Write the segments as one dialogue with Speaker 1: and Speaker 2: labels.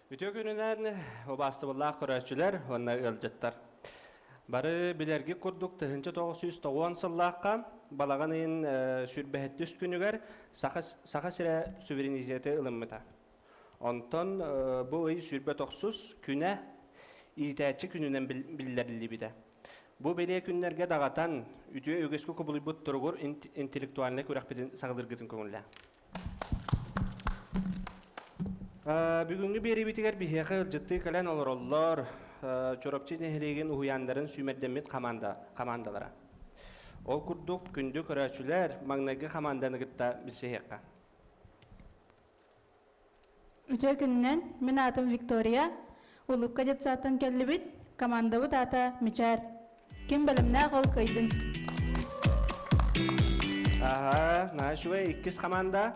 Speaker 1: Үтүө күнүнэн убаастыбыллаах көрөөччүлэр уонна ыалдьыттар. Бары билэрги курдук тыһынча тоғыз жүз тоғуон сыллаахха балаҕан ыйын сүрбэһэттүс күнүгэр Саха сирэ суверенитеты ылыммыта. Онтон бу ый сүрбэ тохсус күнэ иитээччи күнүнэн биллэриллибитэ. Бу бэлиэ күннэргэ даҕатан, үтүө үгүскү кубулуйбут туругур интеллектуальнай күрэхпитин саҕалыыргытын көҥүллээн. бүгүҥҥү биэриибитигэр биһиэхэ ырдьыттыы кэлэн олороллор Чоропчи нэһилиэгин уһуйааннарын сүүмэрдэммит хамаанда, хамаандалара. Ол курдук күндү көрөөччүлэр маҥнайгы хамаанданы кытта билсиһиэххэ. Үтүө күнүнэн, мин аатым Виктория, Улукка детсадтан кэллибит, командабыт аата Мичаар. Ким бэлэмнээх ол кыайдын. Аха, наачывай иккис команда.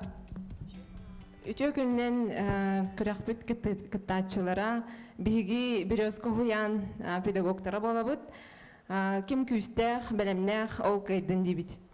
Speaker 1: Үтүө күнүнэн күрөхпүт кыттааччылара биһиги березка уһуйаан педагогтара буолабыт. Ким күүстээх, бэлэмнээх ол кыайдын диибит.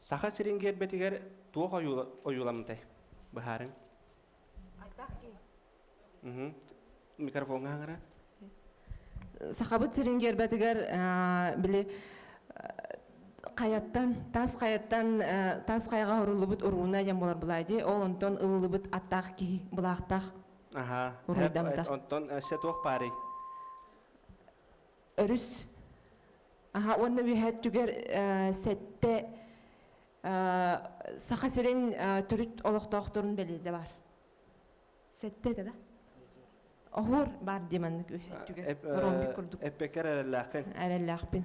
Speaker 1: Саха сирин гербэтигэр туох ойууламытай? Быһаарыҥ. Айтах ки. Микрофоҥҥа хаҥара. Сахабыт сирин гербэтигэр били хайаттан тас хайаттан тас хайаҕа оруллубут урууна дьэн болар булайди ол онтон ылылыбыт аттаах киһи былаахтаах аха онтон эссе туох парый өрүс уонна үөһэ өттүгэр сэттэ Саха сирин төрүт олохтоохторун бэлиэтэ бар. Сэтте да? Оһуор бар дии маннык өттүгэр. Ромбик курдук. Эппекер эрэллээхпин. Эрэллээхпин.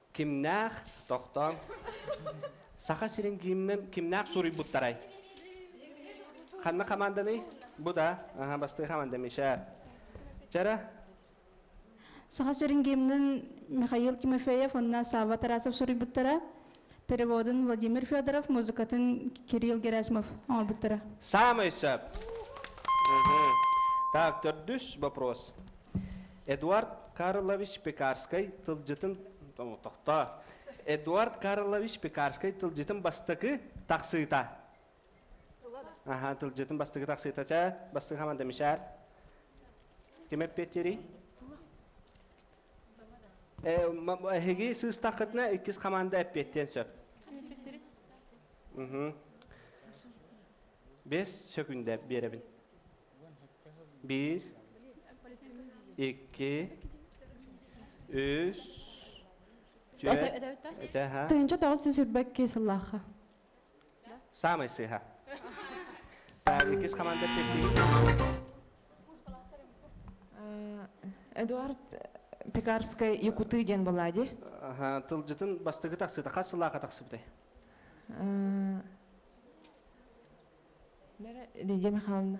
Speaker 1: Кимнээх, тохтооҥ. Саха сирин гимнэ кимнээх суруйбуттарай? Ханна хамаанданый? Бу да? Аха, бастыы хамаанда Миша. Вчера Саха сирин гимнын Михаил Тимофеев уонна Савва Тарасов суруйбуттара. Переводун Владимир Федоров, музыкатын Кирилл Герасимов оҥорбуттара. Самый сөп. Так, төрдүс вопрос. Эдуард Карлович Пекарскай тылдьытын тохтоо. Эдуард Карлович Пекарскай тылдьытын бастакы тахсыыта. Аха, тылдьытын бастакы тахсыыта ча, бастакы хаман демишар. Ким эппеттери? Эһиги сыыстаххытына иккис хаманда эппеттен сөп. Бес сөкүндэ беребин. bir iki үс тыйынча тоҕус сүүс үрбэк кисыллаахха самый сыха так иккис команда пекин эдуард пекарская якуты диэн буолади тылжытын бастыгы тахсыта хас сыллаахха тахсыбытай Лидия Михайловна,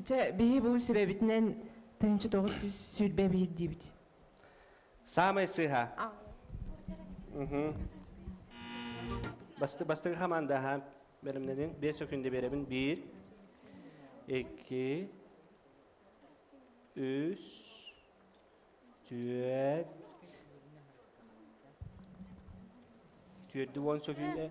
Speaker 1: чэ, биһи бу сүбэбитинэн тыһыынча тоҕус сүүс сүүрбэ биир диибит. Самый сыха. Басты бастыгы хаманда ха бэлимнедин бес өкүндө беребин бир, эки, үс, түөт, түөрдү уон сөкүйде,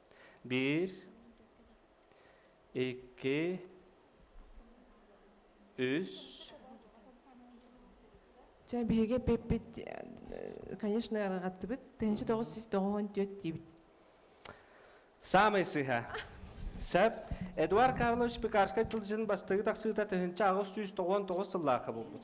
Speaker 1: bir iki үс Дьэ, биһиги эппиппит, э, конечно, ыраҕаттыбыт. Тыһынчы тоҕус сүүс тоҕуон түөрт диибит. Самый сыһа. Сөп. Эдуард Карлович Пекарскай тылдьын бастыгы тахсыыта тыһынча аҕыс сүүс тоҕуон тоҕус сыллаахха булбут.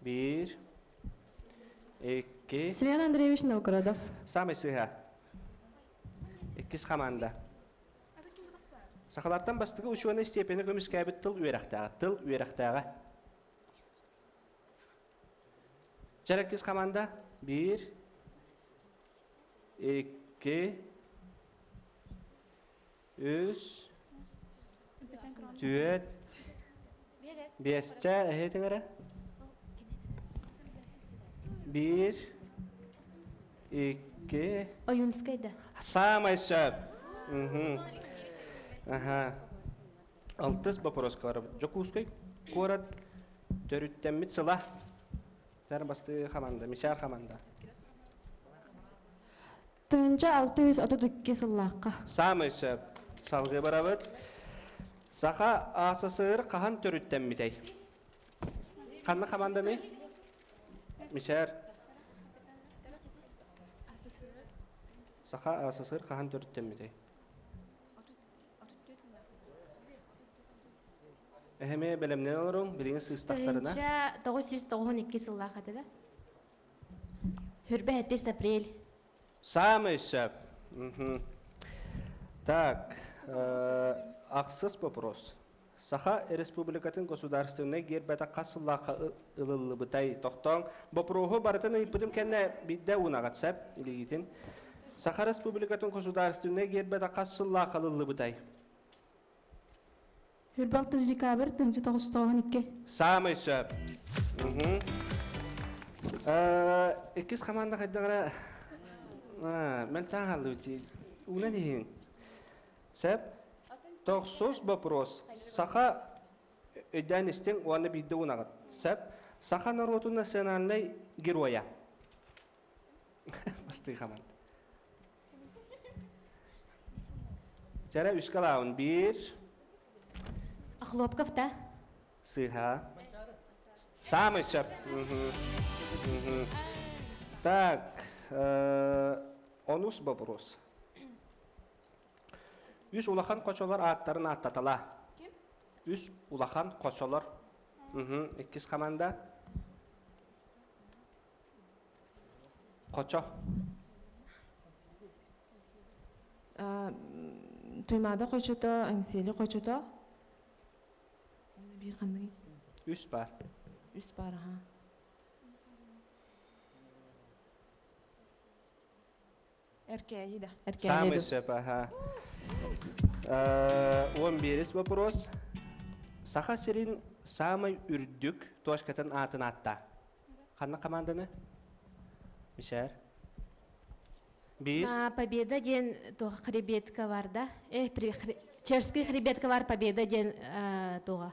Speaker 1: Биир, икки, Семен Андреевич Новгородов. самый сыһа. Иккис хамаанда. Сахалартан бастыгы учуонай степені көмүскээбит тыл үөрэхтээҕэ. Тыл үөрэхтээҕэ. Жараккис команда. Бір, екі, үс түөрт биэсчэ эһиитиҥэрэ биир икки Ойунскай да. Саамай сөп. Аха. Алтыс бопороско барабыт. Дьокуускай куорат төрүттэммит сыла. Тар бастыы хаманда, мичаар хаманда. Тыһыынча алты жүз отут икки сыллаахха. Саамай сөп. Салгыы барабыт. Саха СССР хаһан төрүттэммитэй? Ханна хамандамый? Мишер. Саха СССР хаһан төрүттэммитэй? Эһэме бэлэмнэн олоруҥ, билиҥи сыыстахтарына. Тыһыынча тоҕус жүз тоҕуһун икки сыллаах этэ да? Хүрбэ һэттис апрель. Саамай сөп. Так, ахсыс вопрос. Саха Республикатын государственнай гербэтэ хас сыллаахха ылыллыбытай? Тохтоон, бопуруоһу барытын ыйыппытым кэннэ бидде унаҕат сеп илигитин. Саха Республикатын государственнай гербэтэ хас сыллаахха ылыллыбытай? Ырбалтыс декабрь, тыҥча тоҕостооһун икки. Саамай сөп. Иккис команда хайдаҕара мэлтаан хааллыбыт уунан иһин. Сөп. Тохсус вопрос. Саха өйдөөн истиҥ уонна биирдэ унаҕыт. Сөп. Саха норуотун национальнай геройа. бастыы ханан жара үскэ лаавын биир охлопков да сыыха самый чап так онус вопрос үс улахан хочолор ааттарын ааттатала үс улахан хочолор иккис команда Хочо. Туймаада хочото, Аңсели хочото. Bir ханны? Үс бар. Үс бар, аха. Эркээйи да. Самый сөп, аха. Он берес вопрос. Саха сирин самый үрдүк точкатын аатын атта. Ханна команданы? Мишер? Бир. Победа ден туга хребетка барда. Э, черская хребетка бар победа ден туга.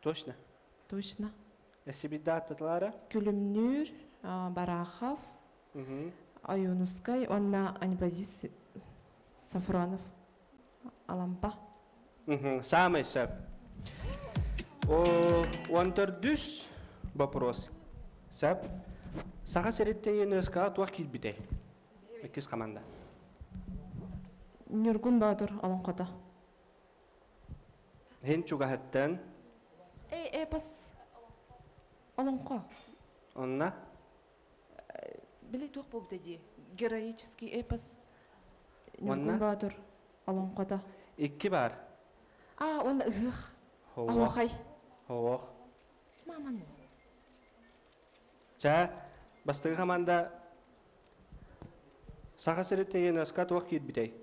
Speaker 1: Точно. Точно. Сибиддаталара. Күлүмнүүр, Барахов, Айонускай уонна Анибадис Сафронов. Алампа. Самый сөп. 14 вопрос. Сап, саха сириттейін өскө туох килбитэй? Иккис команда. Ньургун Боотур олоҥхото. Һин чугаһыттан. Эй, эпос. Олоҥхо. Онна? Били туох буолбута дии. Героический эпос. Ньургун Боотур олоҥхото. Икки бар. А, уонна ыһых. Оһох. Оһох. Маман. Чаа, бастыгы хаманда Саха сириттен ЮНЕСКО туох киирбитэй?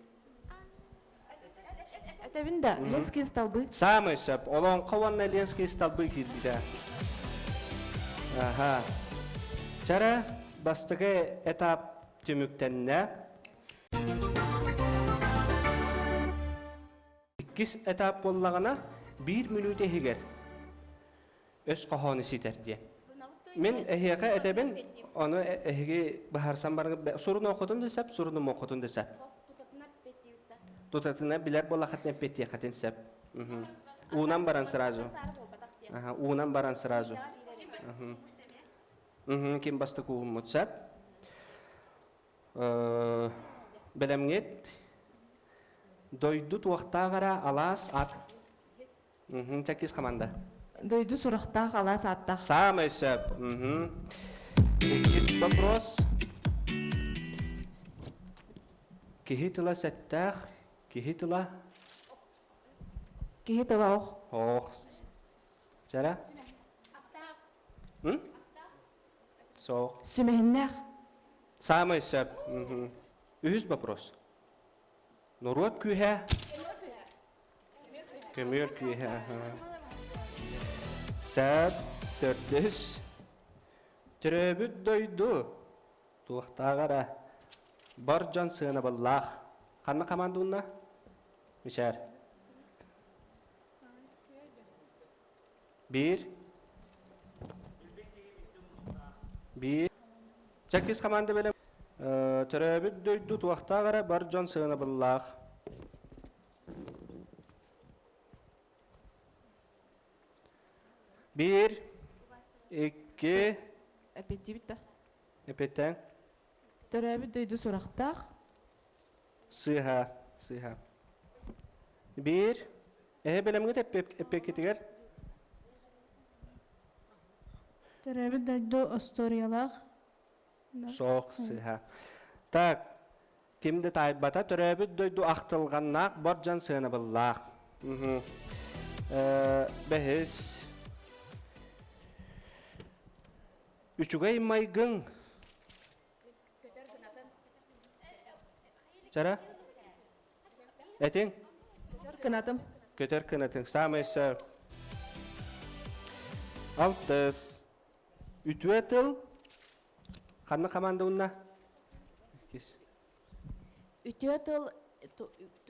Speaker 1: Этэбин да, Ленские столбы. Самый сөп. Олоҥхо уонна Ленские столбы киирбитэ. Аха. Чара бастыгы этап түмүктэннэ. Иккис этап боллагана 1 мүнүүт иһигэр. өс хоһоону ситэр диэн. Мен эһиэхэ этэбин, ону эһиги быһаарсан баран сурун оқытын да сеп, сурунум оқытын да сеп. Тутатына билер болахатын эппеттиэхатын сеп. Уунан баран сразу. Ага, уунан баран сразу. Угу, ким бастык ууммут сеп. Белемгет дойду туохтаагара алаас ат Чакис команда. Дойду сурахтаах алаас ааттаах. Самый сөп. Иккис вопрос. Киһи тыла сэттээх, киһи тыла Киһи тыла ох. Ох. Жара? Соох. Сүмэһиннээх. Самый сөп. Үһүс вопрос. Норуот күүһэ көмүөр киэһэ саат төрдөс төрөөбүт дойду туохтааҕара бар дьон сыанабыллаах ханна хамаандунна мишер биир биир чаккис команда белем төрөөбүт дойду туохтааҕара бар дьон сыанабыллаах Bir, iki, эппеттиибит да эпеттең төрөөбүт дойду сурахтаах сыыһа сыыһа бир эһэ бэлэмҥит эппиэккитигэр төрөөбүт дойду остуоруйалаах соох сыыһа так Ким да таайбата төрөөбүт дойду ахтылҕаннаах бор дьон сыанабыллаах. Бэһис Үчүгэй майгың Жара Этиң Кынатым Көтөр кынатың Самый сэр Алтыс Үтүө тыл Ханна командунна? Иккис. Үтүө тыл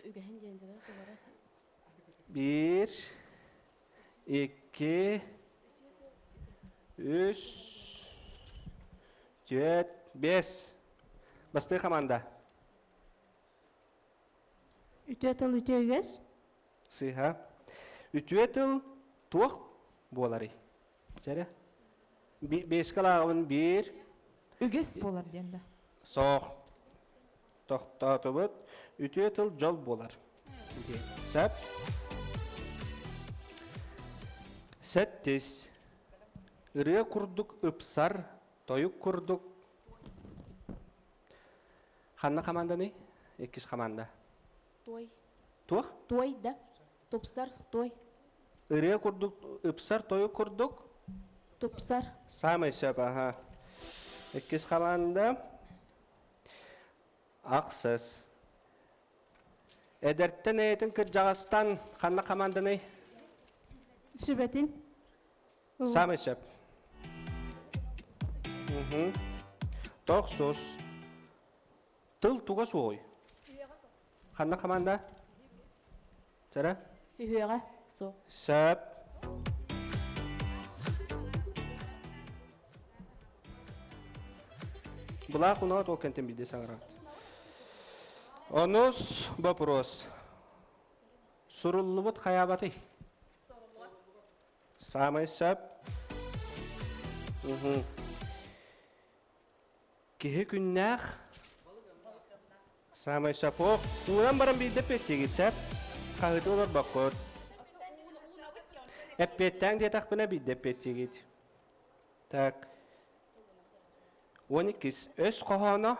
Speaker 1: үгэһин диэн тулара. Bir, iki, üç, dört, beş. Бастыы команда. Үтүө тыл үтүө үгэс. Сыыһа. Үтүө тыл туох буоларый? Чэрэ. Биэскэ лааҕыбын биир. Үгэс буолар диэн да. Соох. Тохтоотубут. Үтүө тыл дьол буолар. Сэп. Сэттис. Ырыа курдук ыпсар, тойук курдук. Ханна хаманданы? Иккис хаманда. Туой. Туох? Туой да. Тупсар той. Ырыа курдук, ыпсар тойук курдук. Тупсар. Саамай сөп, аха. Иккис хамаанда. Ахсыс. Эдэртэн эйэтин кырдьаҕастан ханна хамаанданый? Сүбэтин. Самый сөп. Тохсус. Тыл туга суоҕуй? Ханна команда? Жара? Сүһүөҕэ суох. Сөп. Булаах унаат ол кентен билде саңарат. Онус вопрос. Суруллубут хаябаты. Самый сөп. Угу. Киһи күннээх Саамай сапох ууран баран биирдэ петтигит сап хаһыты олорбоккот. Эппеттең диэтахпына биирдэ петтигит. Так. Он иккис өс хоһооно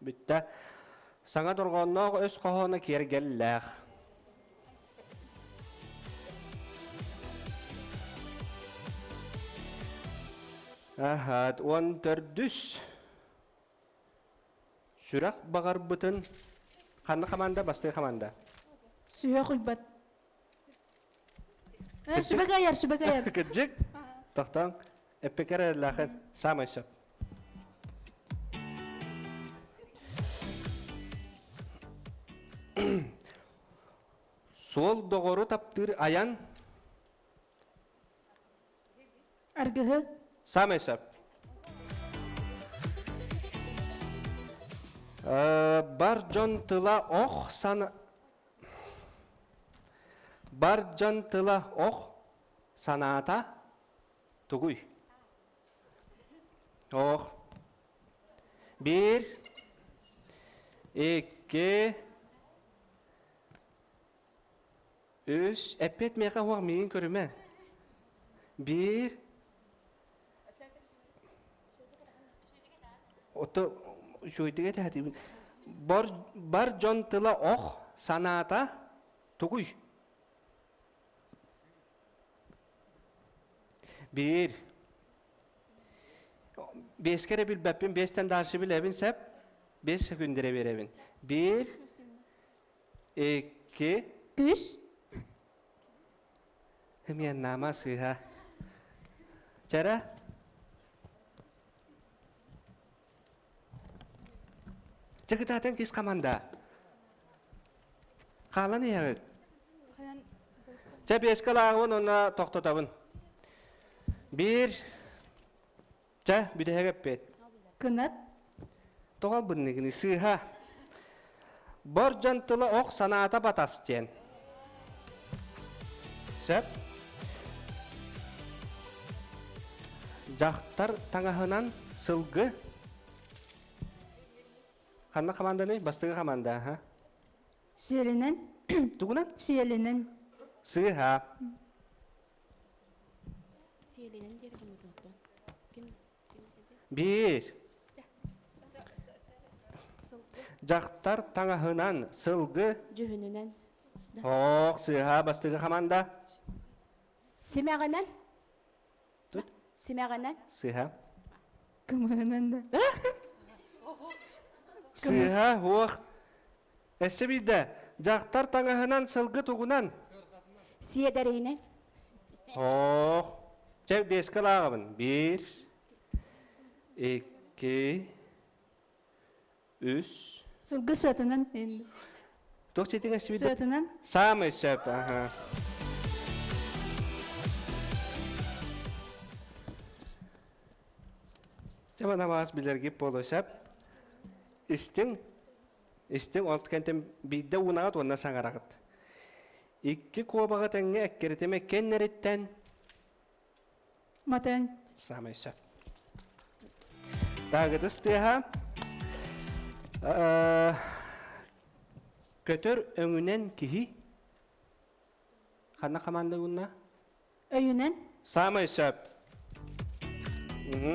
Speaker 1: Бүттэ. Саҥа дорҕоонноох өс хоһооно киэргэллээх. Аһаат, уон төрдүс. Сүрэх баҕарбытын ханна хамаанда, бастыҥ хамаанда? Сүһүөх Уйбат. Сүбэгэ айар, сүбэгэ айар. Кырдьык, тохтоон, эппекер эрэллээхин саамай сөп. Суол доҕору таптыыр айан Аргыһы Самый сөп. Э, бар дьон тыла ох сана бар дьон тыла ох санаата тугуй? Ох. Bir, iki, Үс, эппиэт миэхэ уһах миигин көрүмэ. Биир, отто үчүгэйдик этиһэтибин. Бар, бар дьон тыла ох, санаата тугуй? Биир. Бес кэрэ билбэппин, бестен дааршы билэбин сеп, бес секундере беребин. Биир, Икки. Үс. Эмиэн наама сыыһа. Чара. Чекытаатын кис команда. Хаалан иһэҕит. Чэ, беске лааҕыбын уонна тохтотабын. Биир, Чэ, бүтэһик эппит. Кынат. Тоҕо бынныгыны сыыһа. Бор дьон тыла ох санаата батас диэн. Сөп. Дьахтар таҥаһынан сылгы. Ханна хаманданы? Бастыгы хаманда, ха? Сиэлинэн. Тугунан? Сиэлинэн. Сыыһа. Сиэлинэн диэри гыммыт оттон. Ким ким диэти? Биир. Дьахтар таҥаһынан сылгы. Дьүһүнүнэн. Оох, сыыһа бастыгы хаманда. Симэҕинэн. Тут. Симэҕинэн. Сыыһа. Кымыһынан да. Сыыһа, уох. Эссе биирдэ дьахтар таҥаһынан сылгы тугунан Сиэдэринэн Оох Чэ биэскэ лааҕабын Bir iki Үс сылгы сыатынан Туох читиҥ эссе биирдэ сыатынан Самый сөп аха Чамана бас билэрги полосап Истин Истиҥ онт кэнтим биирдэ уунаҕыт уонна саҥараҕыт. Икки куобаҕы тэҥҥэ эккирэтимэ кэннэриттэн Матыҥ. Саамай сөп. Даагытыс тыаһа э, көтөр өҥүнэн киһи ханна хамаанда гунна? Өйүнэн. Саамай сөп. Угу.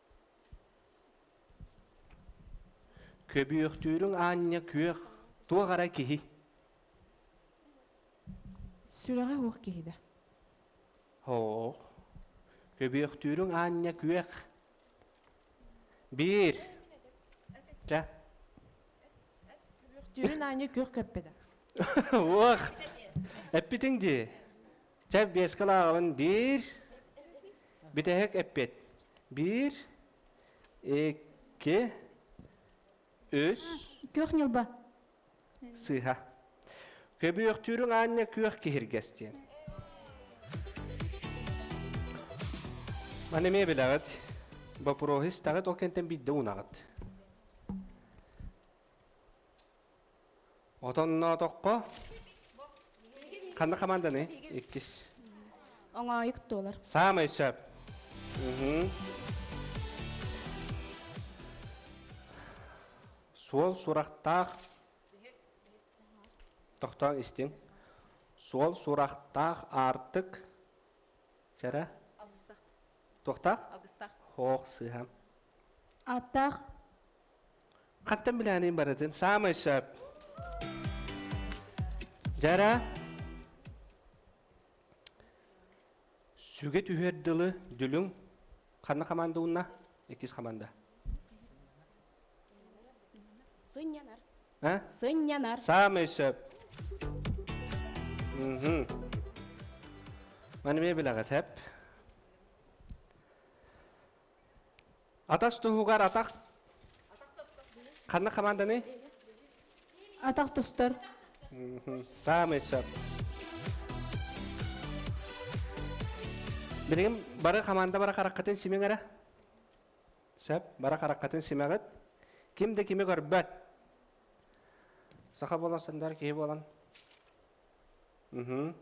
Speaker 1: Көбүөхтүүрүҥ аанньа күөх туох эрэ киһи Сүрэҕэ уох киһи да Оох Көбүөхтүүрүҥ аанньа күөх Биир Чэ Көбүөхтүүрүн аанньа күөх көппө да Уох Эппитиҥ дии Чэ, биэскэ лааҕабын биир, бүтэһик эппиэт. Биир, икки, үс, Күөх ньылба. сыыһа. Көбүөхтүүрүҥ аанньа күөх киһиргэс диэн. Маны эмиэ билэҕит. Бопуруоһу истэҕит, ол кэнтэн биирдэ унаҕыт. Отонноотоххо ханна команданы? Иккис. Оңоойук туолар. Саамай сөп. Суол сурахтаах тохтоон истиҥ. Суол сурахтаах аартык жара туохтаах? Алгыстаах. Хоох сыһам. Ааттаах Хаттан билэҕиниин барытын саамай сөп. Жара сүгэ түһэр дылы дүлүҥ ханна хаманда унна иккис хаманда сынньанар сынньанар саамай сөп маны эмиэ билэҕит эп Атас туһугар атах ханна команданы? Атах тостор. Самый сөп. Билигин бары команда бара хараккатын симеңара. Сөп, бара хараккатын симәгет. Ким да кими көрбөт. Саха болан сандар киһи болан. Уһу.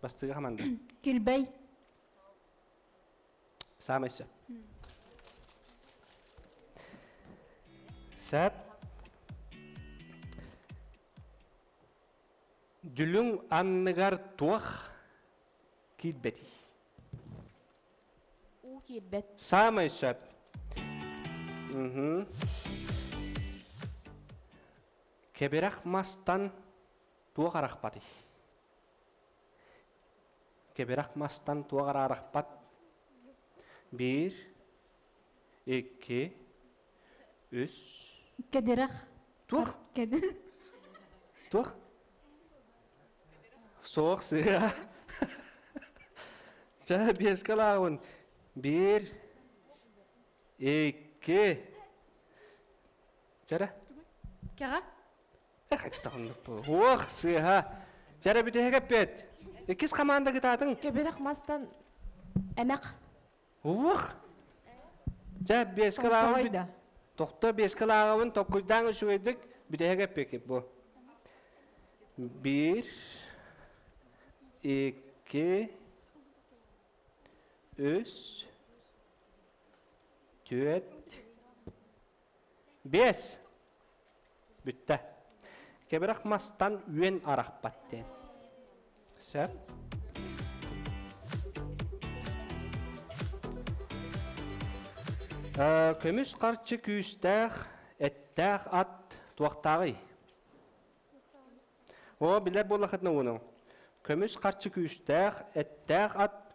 Speaker 1: Бастыга команда. Килбей. Саамай сөп. Сәп Дүлүҥ анныгар туох киирбэтий? Уу киирбэт. Саамай сөп. Уһу. Кэбирэх мастан туох арахпатый? кэбирэх мастан туох араарахпат биир икки үс кэдирэх туох кэдир туох суох сыа чэ биэскэ лааҕын биир икки чэрэ кэҕэ Хайдах оннук буолуо? Уох, сыаха. Чара бүтэһик эппэт. Иккис хамаанда кытаатыҥ. Кэбирэх мастан эмэх. Уох. Ча биэскэ лааҕын да. Тохто биэскэ лааҕабын tokkуйдаан үчүгэйдик бүтэһик эппекит бу. Bir, iki, üç, dört, Биэс. Бүттэ. Кэбирэх мастан үөн арахпат диэн. Сөп. көмүс харчы күүстээх, эттээх ат туохтааҕый? О, билэр буоллахытына ууну. Көмүс харчы күүстээх, эттээх ат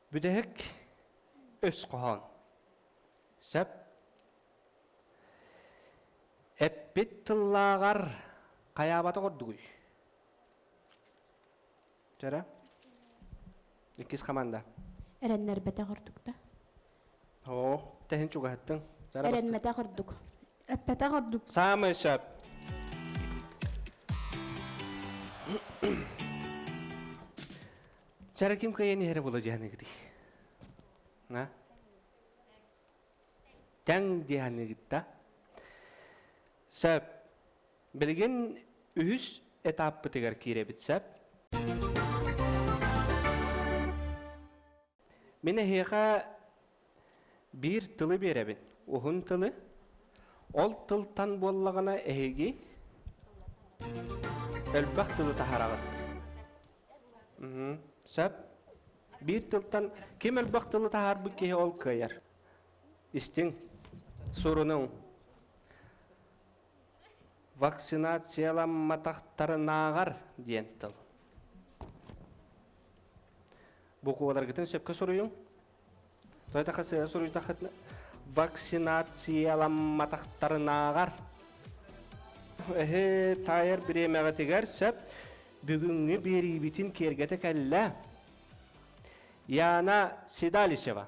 Speaker 1: Бүтэһик өс хоһоон. Сөп. Эппит тыллааҕар хайаабата ордугуй? Чөрө? Иккис хаманда. Эрэннэрбэтэх ордук да. Оо, тэһин чугаһыттың. Эрэнмэтэх ордук. Эппэтэх ордук. Самый сөп. Чара ким кыайан иһэрэ була дьаһаныгытый? А? Тэҥ дьаһаныгытта? Сөп. Билигин үһүс этаппытыгар киирэбит сөп. Мин эһиэхэ Биир тылы биэрэбин, уһун тылы. Ол тылтан буоллаҕына эһиги элбэх тылы таһараҕыт. Уһу. Сөп. Биир тылтан ким элбэх тылы таһаарбыт киһи ол кыайар. Истиҥ. Сурунуҥ. Вакцинацияламматахтарынааҕар диэн тыл. Букваларгытын сөпкө суруйуҥ. то это касается суруйдахытына вакцинацияламматахтарынааҕар эһи таайар бириэмэҕитигэр сөп бүгүҥҥү биэриибитин киэргэтэ кэллэ яна седалищева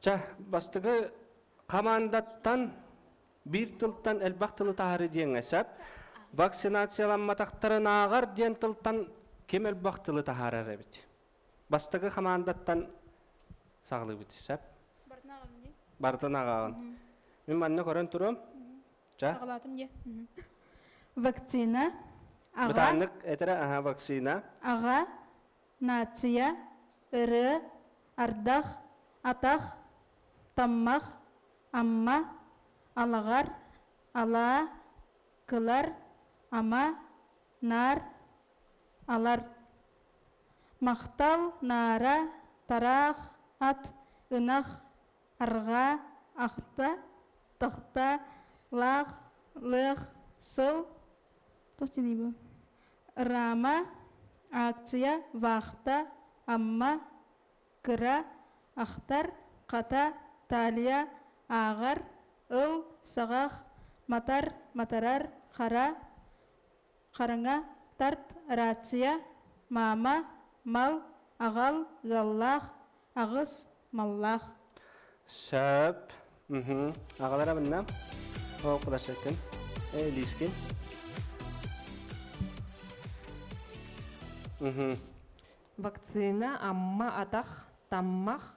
Speaker 1: Ча, бастыгы хамаандаттан биир тылтан элбэх тылы таһары диэҥэ сөп. Вакцинацияламматахтарын ааҕар диэн тылтан ким элбэх тылы таһаарар эбит. Бастыгы хамаандаттан саҕалыыбыт сөп. Бартан аҕаҕын Бартан аҕаҕын. Мин манна көрөн турам. Ча. Саҕалаатым диэ. Вакцина. Аҕа. Бытааннык этэрэ аһа вакцина. Аҕа. Наация, ырыа, ардах, атах, таммах, амма, алаҕар, алаа, кылар, ама, наар, алар. Махтал, наара, тараах, ат, ынах, арҕаа, ахта, тохта, лаах, лыах, сыл, туох дии бу? Рама, ааччыйа, вахта, амма, кыра, ахтар, хата, талия, ааҕар, ыл, саҕах, матар, матарар, хара, хараҥа, тарт, рация, маама, мал, аҕал, ыаллаах, аҕыс, маллаах. Сөп. Уһу. Аҕалар абынна. Ол кулашаккын. Э, лискин. Уһу. Вакцина Амма Атах Таммах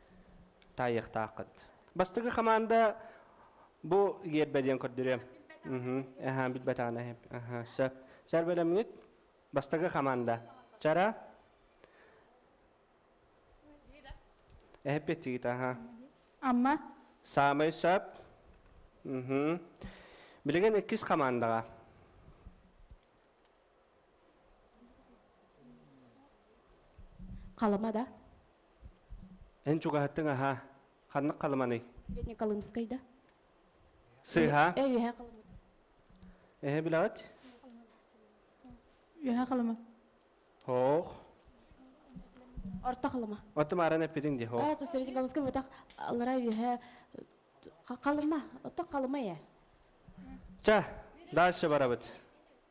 Speaker 1: таайыахтааххыт. Бастакы хамаанда бу гиэрбэ диэн көрдөрүөм. Эһаа билбэтаҕына эһэм. Аха, сөп. Чар бөлөмүнүт бастакы хамаанда. Чара. Эһэппиттигит, аха. Амма. Саамай сөп. Угу. Билигин иккис хамаандаҕа. Халыма да? Эн чугаһаттың аһа. Ханнык Халыманый? Среднеколымскай да? Сыыһа? Э, үөһэ Халыма. Эһэ билэҕит? Үөһэ Халыма. Хоох. Орто Халыма. Отто мааран эппитиҥ дии, хоох. Аа, то среднеколымскай бутах аллара үөһэ Халыма. Отто Халыма э. Ча, дальше барабыт.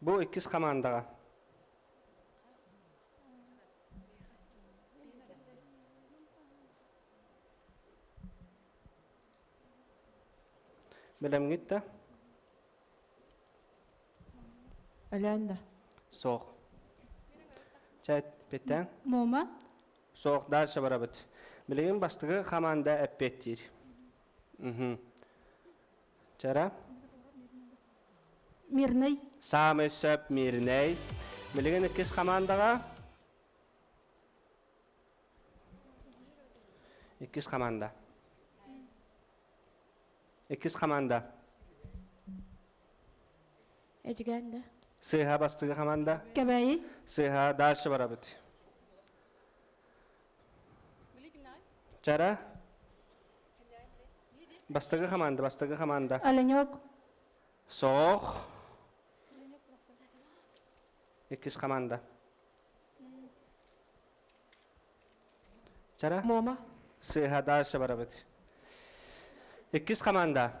Speaker 1: Бу иккис хамаандаҕа бэлэмҥит да Өлөөн да. Суох. Чэ, биттэн. Мума. Суох, дальше барабыт. Билигин бастыгы хамаанда эппиэттиир. Угу. Вчера Мирный. Самый сөп мирный. Билген иккис командага. Иккис команда. Иккис команда. Эжигенде. Сыха бастыгы команда. Кебеи. Сыха дальше барабыт. Чара бастакы хамаанда бастакы хамаанда Оленек Соох иккис хамаанда Чара Мома Сыыһа дальше барабыт Иккис хамаанда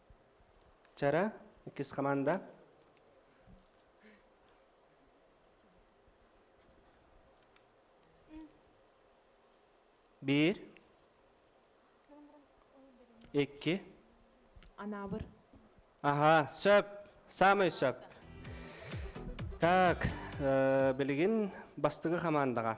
Speaker 1: Чара, иккис хамаанда. Биир. Икки. Анаабыр. Аха, сөп. Самый сөп. Так, э, билигин бастыгы хамаандаға.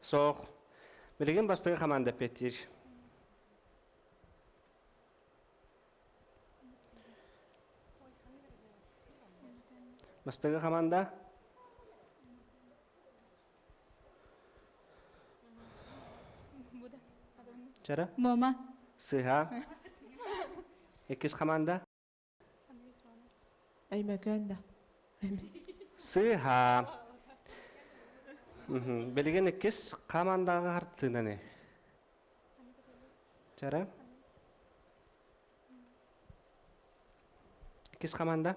Speaker 1: Соох. Билигин бастыгы команда петир. Бастыгы команда. Чара? Мома. Сыха. Иккис команда. Өймөкөөн да. Сыыһа. Билигин иккис хамандаҕа хартыынаны. Чара? Иккис хаманда?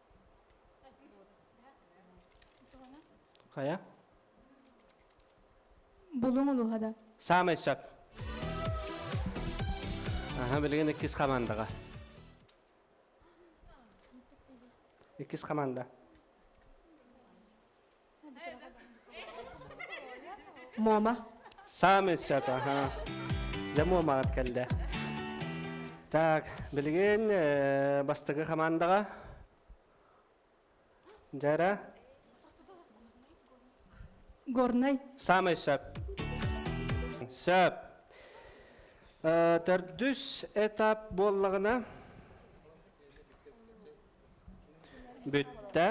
Speaker 1: Хайа? Булуҥ улууһада. Саамай сөп. Аха, билигин иккис хамандаға. Иккис хаманда. Муома. Саамай сөп, аһа. Дьэ, Муомаҕыт кэллэ. Так, билигин э, бастакы хамаандаҕа. Жара? Горнай. Самый сөп. Сөп. Э, төрдүс этап буоллаҕына бүттэ.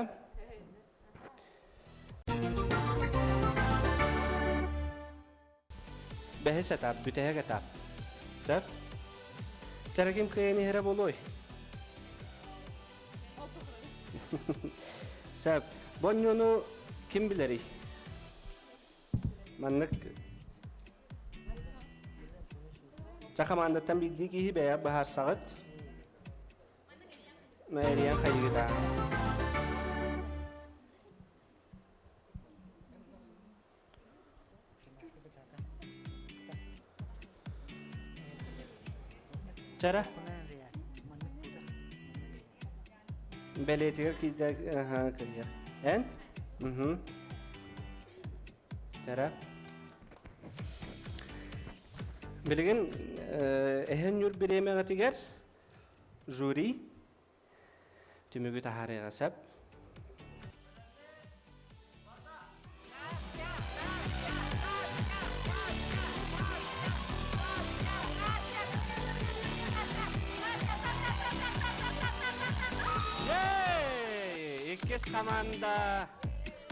Speaker 1: Бэһис этап, бүтэһик этап. Сөп? Сэрэгим кыайан иһэрэ болуой? Сөп. Бонньону ким билэрий? Маннык Ча командаттан биирдии киһи бэйэ баһаарсаҕыт. Мэрия хайыыта Чара Бэлиэтигэр киирдэ аха кыйа Эн? Уһу Чара Билигин эһэн ньур бириэмэҕитигэр жюри түмүгү таһаарыаҕа сөп иккис команда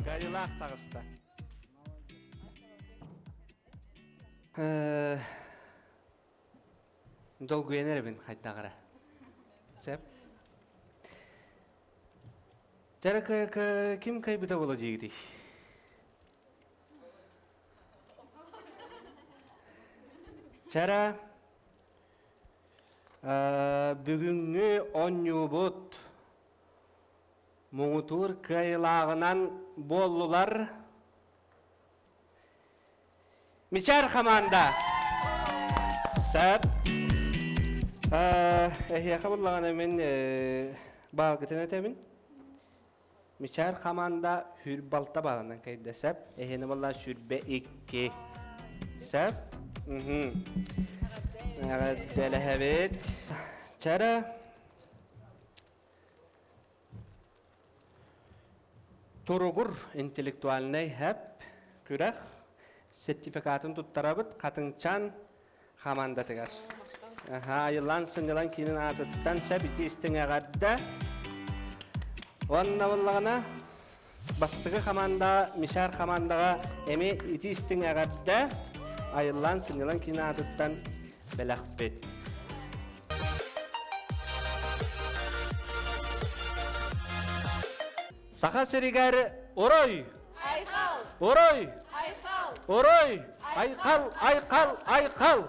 Speaker 1: Горилах таҕыста долгуйан эрэбин хайдаҕара сөп дара ким кайбыта була диигитий чара бүгүҥҥү онньуубут муҥутуур кыайылааҕынан буоллулар Мичаар хамаанда. Сап. Эһиэхэ буллаҕына мин баалгытын этэбин. Мичаар хамаанда хүр балта баалынан кайда сап. Эһиэне болла сүрбэ икки. Сап. Эҕэрдэлэһэбит. Чара. Туругур интеллектуальнай һэп күрэх сертификатын туттарабыт Хатыҥчаан хамандатыгар. Айыллаан сынньалаң киинин аатыттан сөп ити истиҥ эҕэрдэ. Уонна буллаҕына бастакы хамаандаҕа Мишар хамаандаҕа эми ити-истиҥ эҕэрдэ айыллаан сынньалаҥ киин аатыттан бэлэхпит. Саха сиригэр орой Айқал! Орой! Айқал! Орой! Айқал! Айқал! Айқал!